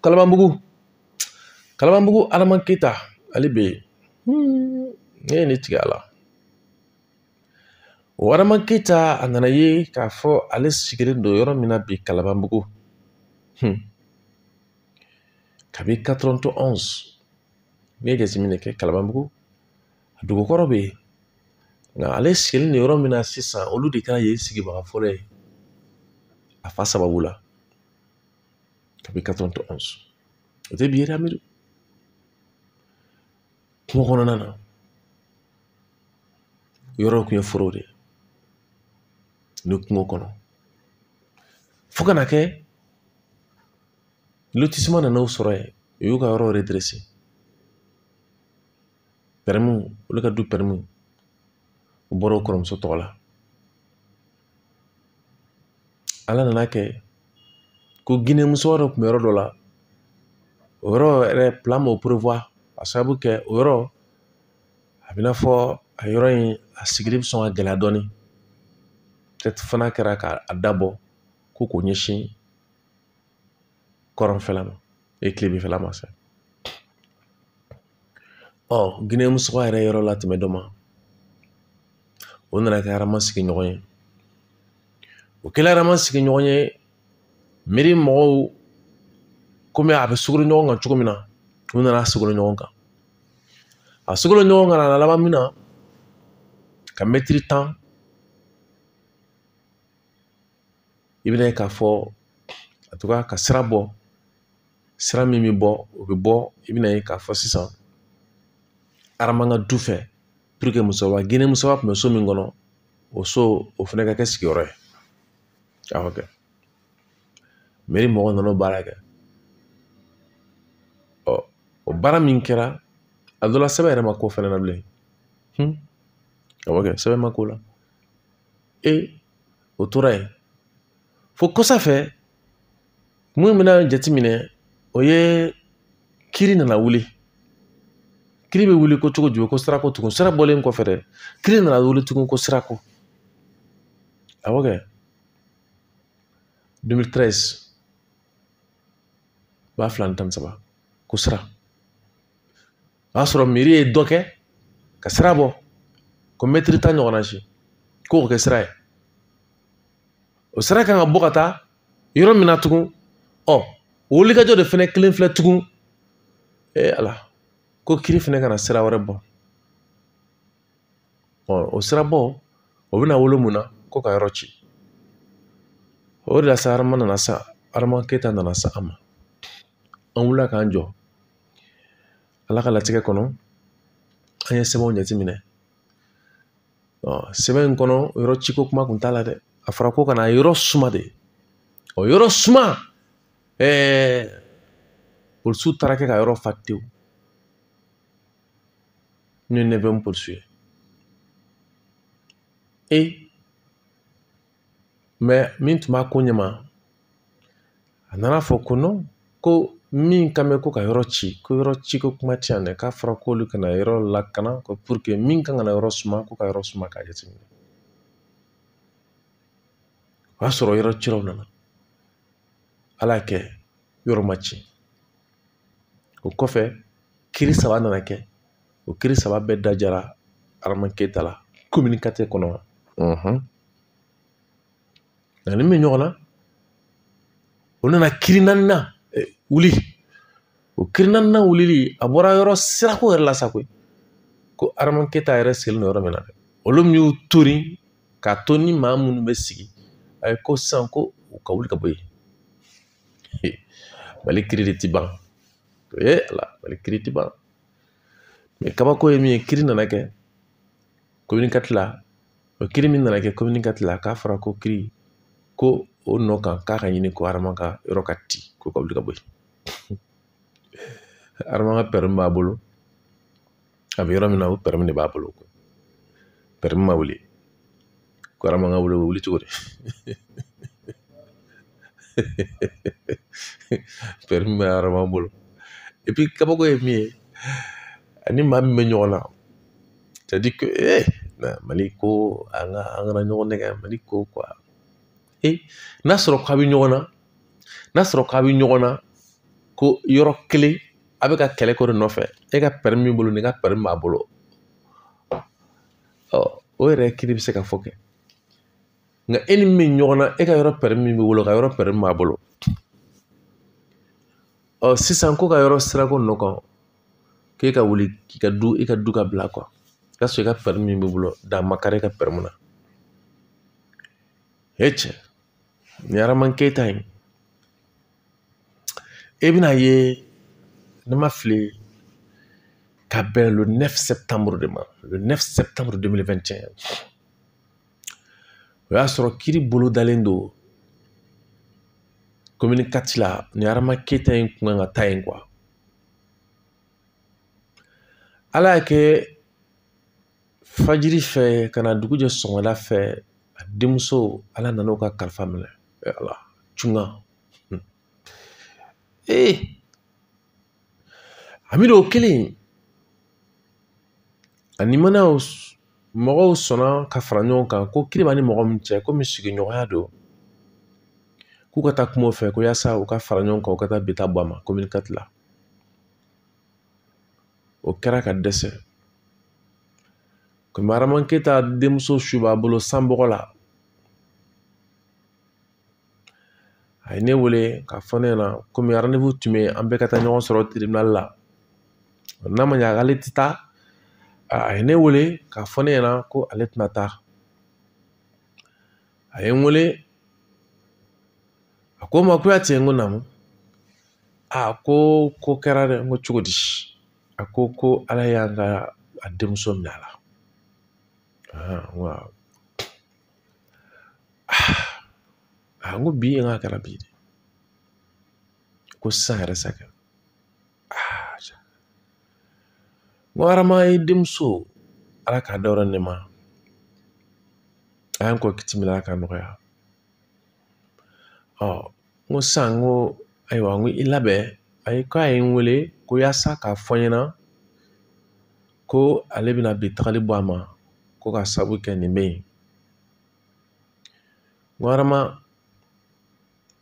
kalabanbugu kalabanbugu adama keyita ale bɛ yen ne ye ne tigɛ a la o adama keyita a nana ye k'a fɔ ale sigilen don yɔrɔ min na bi kalabanbugu kabi 91 ne ye jateminɛ kɛ kalabanbugu dugu kɔrɔ bɛ yen nka ale sigilen don yɔrɔ min na sisan olu de kɛra yen sigibaga fɔlɔ ye a fa sababu la kabi 91 o tɛ bi ye dɛ amidu kungo kɔnɔna na yɔrɔw tun ye forow de ye ni kungo kɔnɔ fo ka na kɛ lotisima nana u sɔrɔ yen u y'u ka yɔrɔ pɛrɛmiw olu ka du pɛrɛmiw bɔra u kɔrɔmuso tɔgɔ la ala nana kɛ ko gine muso dɔ tun bɛ yɔrɔ dɔ la o yɔrɔ yɛrɛ plan m'o prévoir a sababu kɛ o yɔrɔ a bɛna fɔ a yɔrɔ in a sigili bɛ sɔn ka gɛlɛya dɔɔnin fana kɛra k'a da bɔ ko k'o ɲɛsin kɔrɔnfɛla ma e kilebinfɛla ma sa ɔ gine muso y'a yɛrɛ yɔrɔ latɛmɛ dɔ ma o nana kɛ arama sigiɲɔgɔn ye o kɛla arama sigiɲɔgɔn ye mɛri mɔgɔw komi a bɛ sogolo ɲɔgɔn kan cogo min na u nana sogolo ɲɔgɔn kan a sogolo ɲɔgɔn kan a laban min na ka mɛtiri tan i bɛna ye k'a fɔ a tora ka sira bɔ sira min bɛ bɔ o bɛ bɔ i bɛna ye k'a fɔ sisan arama ka du fɛ pour que musoba gine musoba tun bɛ so min kɔnɔ o so o fana ka kɛ sigiyɔrɔ ye a ka kɛ mɛri mɔgɔ nana baara kɛ ɔ o baara min kɛra a dɔ la sɛbɛn yɛrɛ ma k'o fɛnɛ na bilen a bɛ kɛ sɛbɛn ma k'o la e o tora yen fo kɔsa fɛ min bɛna jateminɛ o ye kiri nana wuli kiri bɛ wuli ko cogo jumɛn ko sirako tugun sira bɔlen kɔfɛ dɛ kiri nana wuli tugun ko sirako awɔ kɛ 2013 ba fila ni tan ni saba ko sira o y'a sɔrɔ mɛri ye dɔ kɛ ka sira bɔ ko mɛtiri tan ɲɔgɔnna si k'o kɛ sira ye o sira kan ka bɔ ka taa yɔrɔ min na tugun ɔ wulikajɔ de fɛnɛ kelen filɛ tugun ee ala ko kiri fɛnɛ ka na sira wɛrɛ bɔ ɔ o sira bɔ o bɛna wolo mun na ko ka yɔrɔ ci o de la sa arama nana sa arama keyita nana se an ma an wulila k'an jɔ ala ka latigɛ kɔnɔ an ye sɛbɛnw jateminɛ ɔ sɛbɛn in kɔnɔ yɔrɔ ciko kuma kun t'a la dɛ a fɔra ko ka na yɔrɔ suma de ɔ yɔrɔ suma ɛɛ polisiw taara kɛ ka yɔrɔ fa tewu n'o ye neuvième polisiw ye e min tun b'a ko ɲɛma a nana a fɔ ko ko min kan bɛ ko ka yɔrɔ ci ko yɔrɔ ci ko kuma tɛ yan dɛ k'a fɔra k'olu ka na yɔrɔ lakana pour que min kan ka na yɔrɔ suma ko ka yɔrɔ suma k'a jateminɛ o y'a sɔrɔ yɔrɔ cilaw nana ala y'a kɛ yɔrɔ ma ci o kɔfɛ kiri saba nana kɛ o kiri saba bɛɛ diyara arama keyita la komini kati kɔnɔ nka a ni min ɲɔgɔn na o nana kiri naaninan wuli o kiri naaninan wulili a bɔra yɔrɔ sirako yɛrɛ la sa koyi ko arama keyita yɛrɛ sigilen don yɔrɔ min na dɛ olu min y'u tori k'a to ni maa minnu bɛ sigi a ye ko sisan ko u ka wuli ka bɔ yen mali kiri de ti ban ee ala mali kiri ti ban kabako ye min ye kiri nana kɛ komini kati la o kiri min nana kɛ komini kati la k'a fɔra ko kiri ko o nɔ kan k'a ka ɲini ko arama ka yɔrɔ ka ci ko ka wuli ka bɔ yen arama ka permis b'a bolo a bɛ yɔrɔ min na o permis de b'a bolo permis ma wuli ko arama ka wuli wuli cogo di permis bɛ arama bolo epi kabako ye min ye a ni maa min bɛ ɲɔgɔn na c'est à dire que ee eh, mali ko an ka an kana ɲɔgɔn nɛgɛn mali ko quoi ee eh, n'a sɔrɔ k'a bɛ ɲɔgɔn na n'a sɔrɔ k'a bɛ ɲɔgɔn na ko yɔrɔ kelen a bɛ ka kɛlɛ ko de nɔfɛ e ka permis b'i bolo nin ka permis b'a bolo o yɛrɛ kiri bɛ se ka fɔ kɛ nka e ni min ɲɔgɔn na e ka yɔrɔ permis min b'i bolo a ka yɔrɔ permis min b'a bolo ɔ sisan ko ka yɔrɔ sirako nɔ kan k'e ka wuli k'i ka du i ka du ka bila kɔ ka sɔrɔ i ka permis min b'i bolo dan ma kari i ka permis na e cɛ nin ye arama keyita ye e bɛna a ye ne ma fili ka bɛn le 9 septembre de ma le 9 septembre 2021 o y'a sɔrɔ kiri bolo dalen don komini kati la ni arama keyita in kun kan ka taa yen quoi ala y'a kɛ fajiri fɛ ka na dugu jɛ sɔgɔmada fɛ a denmuso ala nana o ka kalifa minɛ ala cunga hmm. ee hamidu o kelen ani mana mɔgɔw sɔnna ka fara ɲɔgɔn kan ko kiri b'a ni mɔgɔ min cɛ komi sigiɲɔgɔnya don k'u ka taa kuma o fɛ ko yaasa u ka fara ɲɔgɔn kan u ka taa bi ta bɔ a ma komini katiri la o kɛra ka dɛsɛ komi arama keta denmuso su b'a bolo sanbɔgɔ la a ye ne wele k'a fɔ ne ɲɛna komi randevu tun bɛ yen an bɛɛ ka taa ɲɔgɔn sɔrɔ tiribinali la n'a ma ɲa k'ale tɛ taa a ye ne wele k'a fɔ ne ɲɛna ko ale tɛna taa a ye n wele a ko ma kuyate n ko naamu a ko ko kɛra dɛ n ko cogo di a ko ko ala y'an ka a denmuso minɛ a la a n ko bi n k'a kɛra bi de ko sisan yɛrɛ sa kɛ n ko arama e denmuso ala k'a dayɔrɔ nɛɛma a y'an kɔn kiti min na ala k'a nɔgɔya ɔ n ko sisan n ko ayiwa n ko i labɛn a ye k'a ye n wele ko yaasa k'a fɔ n ɲɛna ko ale bɛna bi tagali bɔ a ma ko ka sabu kɛ nin bɛ yen arama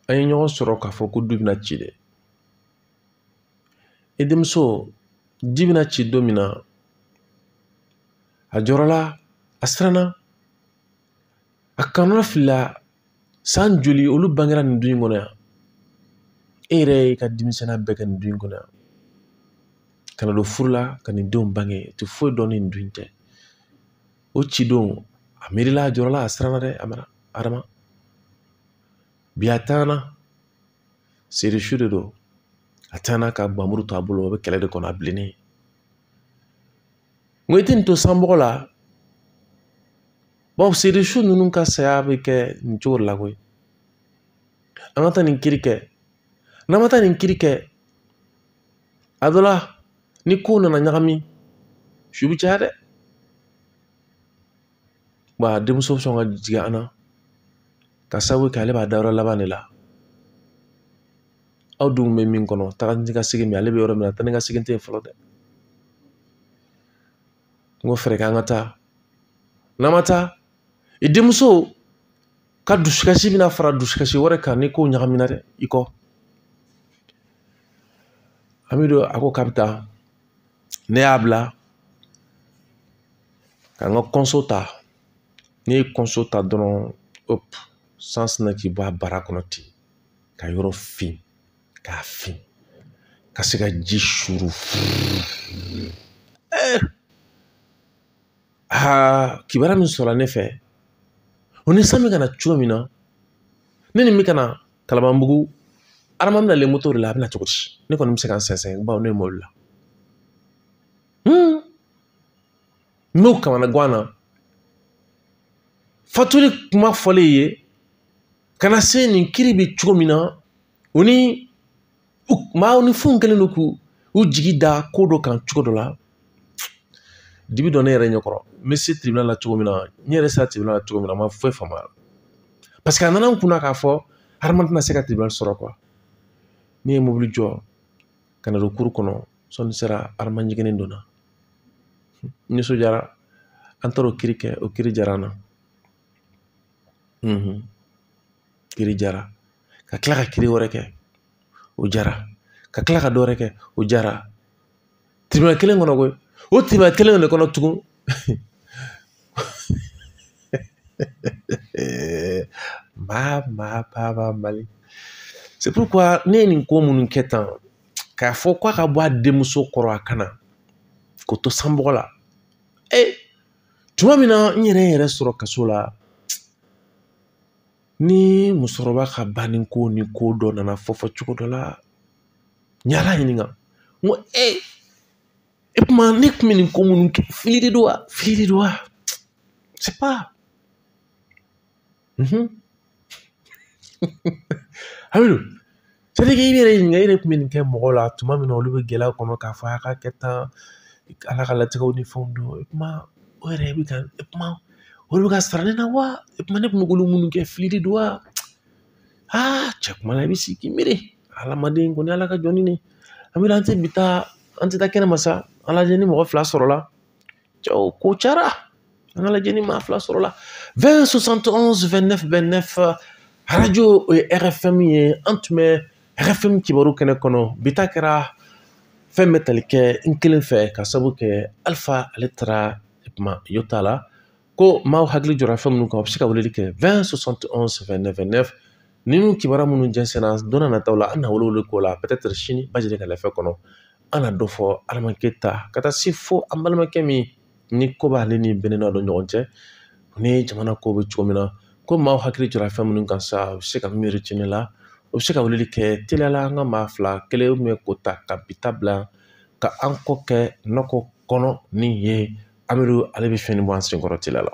an ye ɲɔgɔn sɔrɔ k'a fɔ ko du bɛna ci dɛ i denmuso du bɛna ci don min na a jɔrɔla a siranna a kɔnɔnafilila san joli olu bangera nin du in kɔnɔ yan e yɛrɛ y'i ka denmisɛnninya bɛɛ kɛ nin du in kɔnɔ yan ka na don furu la ka nin denw bange u tɛ foyi dɔn ni nin du tɛ o ci don a miirila a jɔrɔla a siranna dɛ a mara adama bi a taana serisu de don a taana ka bamuru to a bolo a bɛ kɛlɛ de kɔnɔ a bilennen n ko i tɛ nin to sanbɔgɔ la bawo seri su ninnu ka saya bɛ kɛ nin cogo la koyi an ka taa nin kiri kɛ n'an ma taa nin kiri kɛ a don la ni kow nana ɲagami su bɛ caya dɛ wa a denmuso bɛ sɔn ka jigin an na ka sabu kɛ ale b'a dayɔrɔ laban de la aw dun bɛ min kɔnɔ taga ni ka segin min ale bɛ yɔrɔ min na taa ni ka segin tɛ yen fɔlɔ dɛ n ko fɛɛrɛ k'an ka taa n'an ma taa i denmuso ka dusukasi bɛna fara dusukasi wɛrɛ kan ni ko ɲagamina dɛ i ko an bɛ don a ko k'a bɛ taa ne y'a bila ka n ka kɔnso ta ne ye kɔnso ta dɔrɔn san sinna k'i bɔ a bara kɔnɔ ten ka yɔrɔ fin k'a fin ka sin ka ji suuru aa kibaruya min sɔrɔla ne fɛ o ni san bɛ ka na cogo min na ne ni bɛ ka na kalabanbugu adama bɛ nalen moto de la a bɛ na cogo di ne kɔni bɛ se ka n sɛnsɛn bawo ne ye mobili la n b'o kamanagan na fatuli kuma fɔlen ye ka na se nin kiri bɛ cogo min na u ni maaw ni fɛnw kɛlen don k'u u jigi da ko dɔ kan cogo dɔ la dibi don ne yɛrɛ ɲɛ kɔrɔ n bɛ se tribunal la cogo min na n yɛrɛ sera tribunal la cogo min na n ma foyi faamu a la parce que a nana n kunna k'a fɔ adama tɛna se ka tribunal sɔrɔ quoi ne ye mobili jɔ ka na don cour kɔnɔ sɔɔni sera adama jiginnen donna n nisɔndiyara an taara o kiri kɛ o kiri diyara an na kiri diyara ka kila ka kiri wɛrɛ kɛ o diyara ka kila ka dɔ wɛrɛ kɛ o diyara tribunal kelen kɔnɔ koyi o tribunal kelen de kɔnɔ tugun maa maa baaba mali c'est pourquoi ne ye nin ko minnu kɛ tan k'a fɔ k'a ka bɔ a denmuso kɔrɔ a kana k'o to sanbɔgɔ la ee tuma min na n yɛrɛ yɛrɛ sɔrɔ kaso la ni musokɔrɔba ka banni ko ni ko dɔ nana fɔ fɔ cogo dɔ la n y'ala ɲininka n ko e i komi ne kun bɛ nin ko minnu kɛ fili de don wa fili de don wa Mhm. Hamidu, c'est à dire k'i yɛrɛ ɲininka i yɛrɛ tun bɛ nin kɛ mɔgɔw la tuma min na olu bɛ gɛlɛya kɔnɔ k'a fɔ a ka kɛ tan ala ka latigɛw ni fɛnw don i komi o yɛrɛ bɛ ka i komi olu bɛ k'a sara ne na wa i komi ne tun bɛ k'olu minnu kɛ fili de don wa aa cɛ kuma la i bɛ sigi k'i miiri hadamaden kɔni ala ka jɔni ne an bɛ an tɛ bi taa an tɛ taa kɛnɛma sa ala ni mɔgɔ fila sɔrɔla cɛw ko cara an k'a lajɛ ni maa fila sɔrɔla 20 71 29 29 arajo o ye rfm ye an tun bɛ rfm kibaru kɛnɛ kɔnɔ bi ta kɛra fɛn bɛ tali kɛ n kelen fɛ ka sabu kɛ alifa ale taara kuma yo t'a la ko maaw hakili jɔra fɛn minnu kan u bɛ se ka weleli kɛ 20 71 29 29 ninnu kibaruya minnu jɛnsɛnna don na nataw la an na wele wele k'o la peut-être sini bajɛ ka lafɛ kɔnɔ an na dɔ fɔ adamaden ta ka taa se fo an balimakɛ min ni ko b'ale ni bɛnɛ dɔ ɲɔgɔn cɛ ni jamana ko bɛ cogo min na ko maaw hakili jɔra fɛn minnu kan sa u bɛ se ka miiri tiɲɛ la u bɛ se ka weleli kɛ teliyala an ka maa fila kelen bɛ ko ta ka bi ta bila ka an kɔ kɛ nakɔ kɔnɔ ni ye amidu ale bɛ fɛn nin bɔ an sen kɔrɔ teliya la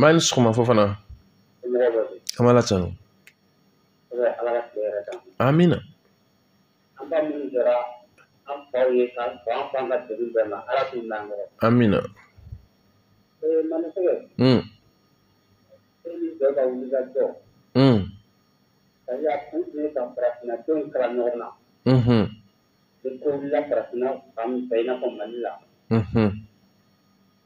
maa ni sɔgɔma fofana an b'ala tanu amina amina Mm. Mm. Mhm. Mhm.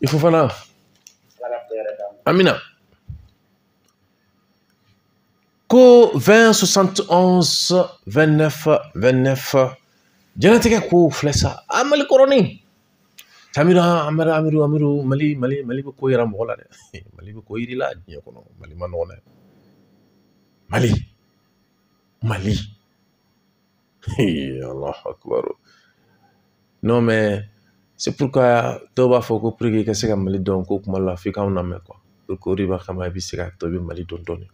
i fofana amina ko 20 71 29 29 jɛnatigɛ ko filɛ sa a mali kɔrɔnin tamira amara amiru amiru mali mali mali bɛ ko yira mɔgɔ la dɛ mali bɛ ko yir'i la diɲɛ kɔnɔ mali ma nɔgɔn dɛ mali mali allahu akbar non mais c'est pourquoi dɔw b'a fɔ ko pour que i ka se ka mali dɔn ko kuma la f'i k'anw lamɛn quoi pour que o de b'a kama i bɛ se ka to i bɛ mali dɔn dɔɔni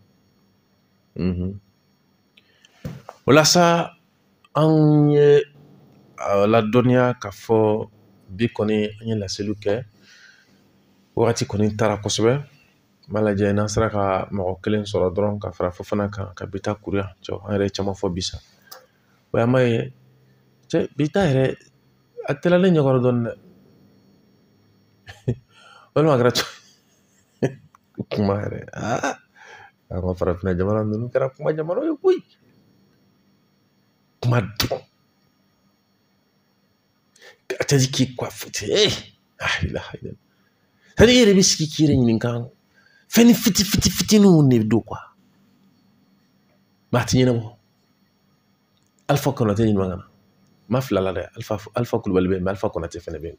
o la sa an ye a ladɔnniya k'a fɔ bi kɔni an ye laseliw kɛ wagati kɔni taara kosɛbɛ n b'a lajɛ n'an sera ka mɔgɔ kelen sɔrɔ dɔrɔn ka fara fofana kan ka bi ta kuru yan cɛ an yɛrɛ ye caman fɔ bi sa o y'an b'a ye cɛ bi ta yɛrɛ a teliyala ne ɲɛkɔrɔ dɔɔni dɛ walima a kɛra kuma yɛrɛ aa an ka farafinna jamana ninnu kɛra kuma jamana ye koyi kuma dɔrɔn a tɛ k'i kɔ fiti e hali i yɛrɛ bɛ sigi k'i yɛrɛ ɲininka fɛnnin fiti fiti fitininw de don quoi mais a tɛ ɲɛnabɔ alifa konate ɲuman kana ma fila la dɛ alifa alifa kulubali bɛ yen mais alifa konate fɛnɛ bɛ yen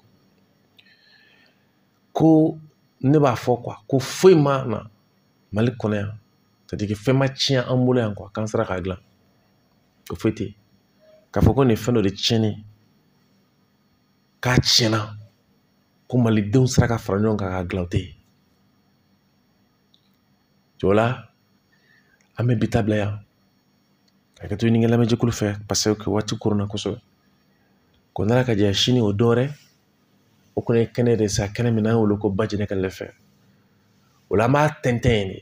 ko ne b'a fɔ quoi ko foyi ma na mali kɔnɔ yan c'est à dire fɛn ma tiɲɛ an bolo yan quoi k'an sera k'a dilan ko foyi tɛ yen k'a fɔ ko nin ye fɛn dɔ de tiɲɛnen ye k'a tiɲɛna ko malidenw sera ka fara ɲɔgɔn kan k'a dilan o tɛ yen o la an bɛ bi ta bila yan ka hakɛto ɲini lamɛnjɛkulu fɛ paseke waati koronna kosɛbɛ ko n'ala ka jɛ sini o dɔwɛrɛ o kɔni ye kɛnɛ de sa kɛnɛ min n'an y'o wele ko bajɛnɛ ka lɛfɛ o la an b'a tɛntɛn yen